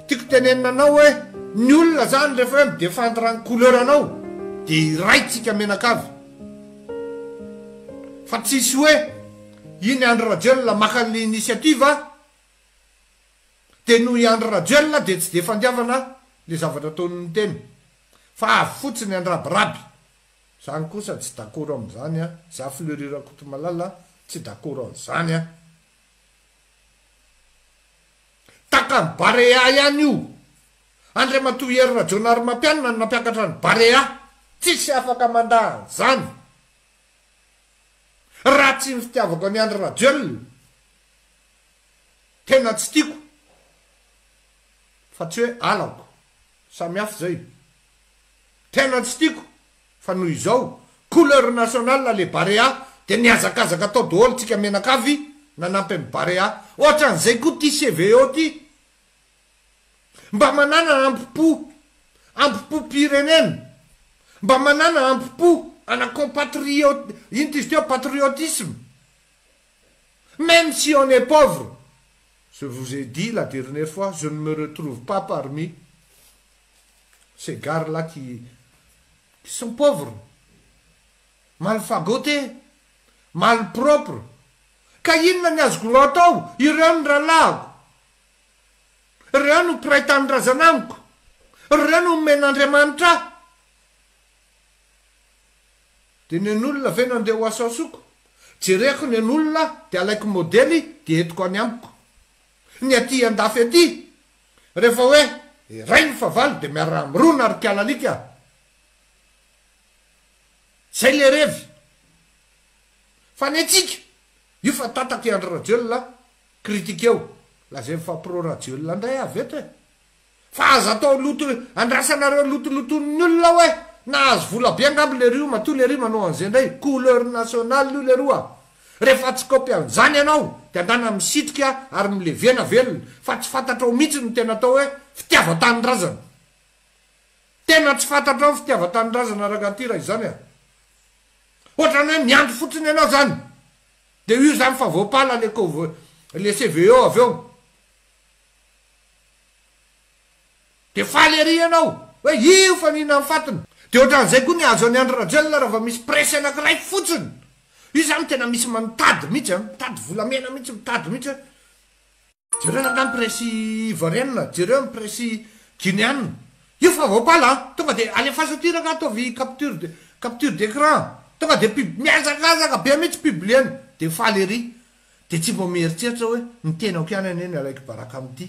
Tiako tenenina anao hoe ny olona zany rehefa hoe mi-defendre ny couleur anao dia iray tsika menakavy fa tsisy hoe iny Andry Rajoelina maka an'ilay initiative dia noho i Andry Rajoelina dia tsy dia fandiavana ilay zavatra ataon'ny tena fa avy fotsiny andrabiraby. Zany kosa tsy dakoro amzany a! Za Fleury Rakotomalala tsy dakoro anzany a! Takan'i Barea ihany io! Andriamatoa Hery Rajaonarimampianina no nampiakatra an'i Barea! Tsisy afaka mandà anzany! Raha tsy ny fitiavako an'i Andry Rajoelina tena tsy tiako fa tsy hoe halako Samy hafa izay. Tena tsy tiako fa noho izao couleur nationale le barea dia nihazakazaka tao daholo tsika menakavy nanampy an'i barea. Ohatran'izay koa ty CVO ty. Mba manana ampi-po, ampi-po-pirenena, mba manana ampi-po ana compatriote, inona ty izy teo, patriotisme. Même si on est pauvre, je vous ai dit la dernière fois, je ne me retrouve pas parmi ces gars là qui qui sont pauvres, mal fagotés, mal propres, ka inona ny azoko atao, ireo ny rahalahiko, ireo no mpiray tanindrazana amiko, ireo no omen'Andriamanitra ahy. Dia ny an'olona ve no andeha ho asaosaoko? Jereko ny an'olona dia alaiko modely dia entiko any amiko. Ny aty andafy aty, rehefa hoe iray ny fahavalo dia miara-mirona ry kalalika a! Izay ilay revy. Fa ny antsika, io fa tatak'i Andry Rajoelina critique eo, lazain'i fa pro Rajoelina indray aho avy eto e! Fa aza atao loto andrasanareo lotoloton'ny olona oe nahazo vola be angamba lerio matoa lery manao an'ze ndray couleur nationale io leroa refa tsy copy an'zany ianao de andana misitrika ary milevena velona fa tsy fantatrao mintsy ny tena atao oe fitiavantanindrazana tena tsy fantatrao ny fitiavantanindrazana rangaty ra izany a otrany oe miandry fotsiny ianao zany de io zany fa voapala le le CVO avy eo Dia faly ery ianao hoe io fa mihinana ny fatiny. Dia ohatran'izay koa ny azo an'i Andry Rajoelina raha vao misy presse anankiray fotsiny. Io izany no tena misy mitady mihitsy an, mitady volamena mihitsy, mitady mihitsy hoe jereo angaha ny presse ivoirianina, jereo ny presse guineanina. Io fa voapala an, tonga dia alefaso aty ireo ka ataovy capture de capture d'écran. Tonga dia pub, mihazakazaka be mihitsy publier-ny. Dia faly ery. Dia tsy mba mieritreritra hoe ny tenako ihany anie no alaiko baraka amin'ity.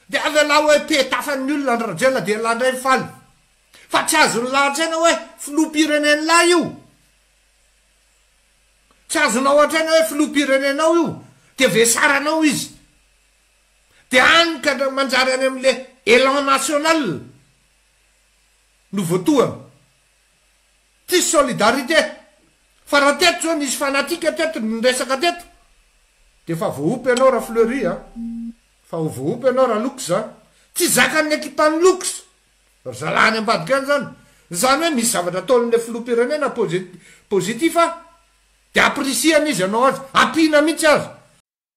Dia avelao hoe pe tafa ny olona ny Rajoelina dia elah indray mifaly. Fa tsy azony lahatra aina hoe filoham-pirenenlah io. Tsy azonao an-traina hoe filoham-pirenenao io dia vesaranao izy. Dia any ka manjary any amin'ilay élan national no voatohana. Tsisy solidarité. Fa raha teto zao nisy fanatique teto niresaka teto de efa voaompy ianao ra Fleury a. Fa ho voaompy ianao ra Looks a. Tsy zakan'ny ekipan'i Looks ry zalahy any ambadika any zany. Zany hoe misy zavatra ataon'ilay filoham-pirenena posi-positif a de apprecier-ny izy hanao azy. Ampiana mihitsy aza.